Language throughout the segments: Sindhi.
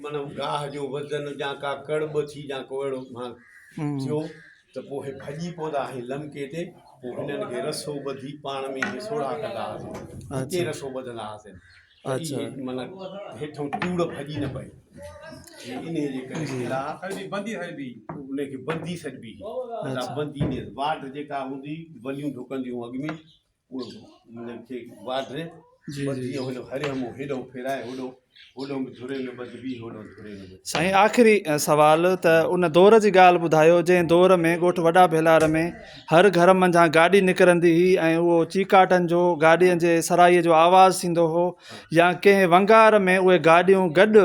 معنيٰ گاهه جو وزن جا ڪا ڪڙ ٻه ٿي جا ڪو اهڙو مال ٿيو ته پوء هي ڀڄي پوندا هئي لمڪي تي پوء هنن کي رسو ٻڌي پاڻ ۾ هي سوڙها ڪندا هئاسين اتي رسو ٻڌندا هئاسين اچا معنيٰ هيٺو ٽوڙ ڀڄي نه پئي ان جي ڪري قلعا سڄي بندي سڏبي ان کي بندي سڏبي هئي بندي ۾ واٽ جيڪا هوندي وليون ڍڪنديون اڳ ۾ سائين آخري سوال ته ان دور جي ڳالهه ٻڌايو جنهن دور ۾ ڳوٺ وڏا ڀيلار ۾ هر گهر منجهان گاڏي نڪرندي هئي ۽ اهو چيڪاٽن جو گاڏين جي سرائي جو آواز ٿيندو هو يا ڪنهن ونگار ۾ اهي گاڏيون گڏ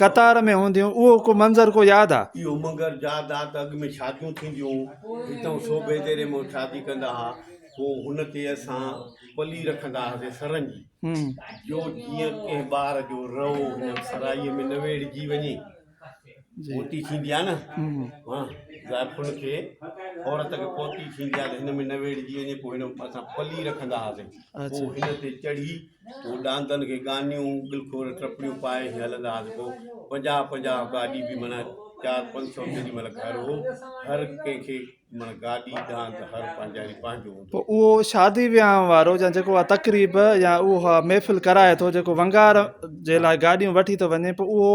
قطار ۾ هونديون، اهو ڪو منظر ڪو ياد آ؟ اهو منگر ياد آ ته اڳ ۾ شاديون ٿينديون هتئون سوڀي ديري ۾ شادي ڪندا ها پو هن تي اسان پلي رکندا هاسي سرن جي جو جيئن ڪنهن ٻار جو رئو هن سرائي ۾ نه ويڙهجي وڃي پوتي ٿيندي آ نه ها زائفن کي عورت کي پوتي ٿيندي آ ته هن ۾ نه ويڙهجي وڃي پو هن اسان پلي رکندا هاسي پو هن تي چڙهي هو ڏاندن کي ڳانيون، ڳلخور، ٽپڙيون پائي هين هلندا هئا ته پوء پنجاهه پنجاهه گاڏي به معنيٰ چار پنج سؤ ڪيڏي مهل گهر هو. هر ڪنهن کي معنيٰ گاڏي ڏاند ته هر پنهنجاري پنهنجو هوندو هو. پوء اهو شادي ويهانء وارو يا جيڪو اها تقريب يا اها محفل ڪرائي ٿو، جيڪو ونگار جي لاء گاڏيون وٺي ٿو وڃي، پوء اهو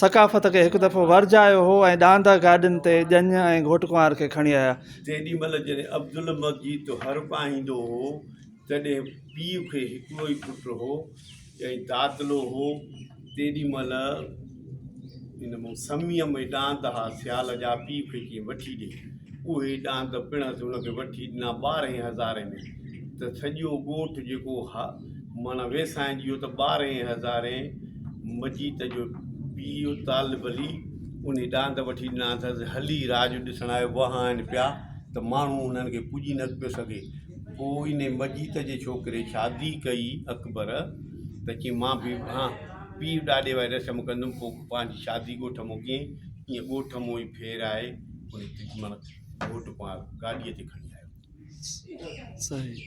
ثقافت کي هڪ دفعو ورجايو هو ۽ ڏاندهه گاڏين تي ڄڃ ۽ گهوٽ ڪنوار کي کڻي آيا. تيڏي مهل جڏهن عبدالمجيد هر پائيندو هو، تڏهن پيء کي هڪڙو ئي پٽ هو ۽ دادلو هو. تيڏي مهل ان مون سميء ۾ ڏاند ها سيال جا پيء کي ڪيئن وٺي ڏي. اهي ڏاند پڻس هن کي وٺي ڏنا ٻارهين هزارين ۾ ته سڄو ڳوٺ جيڪو ها، معنيٰ ويساهين جي اهو ته ٻارهين هزارين مجيت جو پيء طالب علي انهي ڏاند وٺي ڏنا اٿس هلي راڄ ڏسڻ آيو وهائن پيا ته ماڻهو انهن کي پڄي نه پيو سگهي پوء انهي مجيت جي ڇوڪري شادي ڪئي اڪبر ته چيائين مان به هان پيء ڏاڏي واري رسم ڪندم پوء پنهنجي شادي ڳوٺ مون ڪيائين ائين ڳوٺ مون ئي ڦيرائي انهي تجمل گهوٽ پاڻ گاڏيء تي کڻي آيو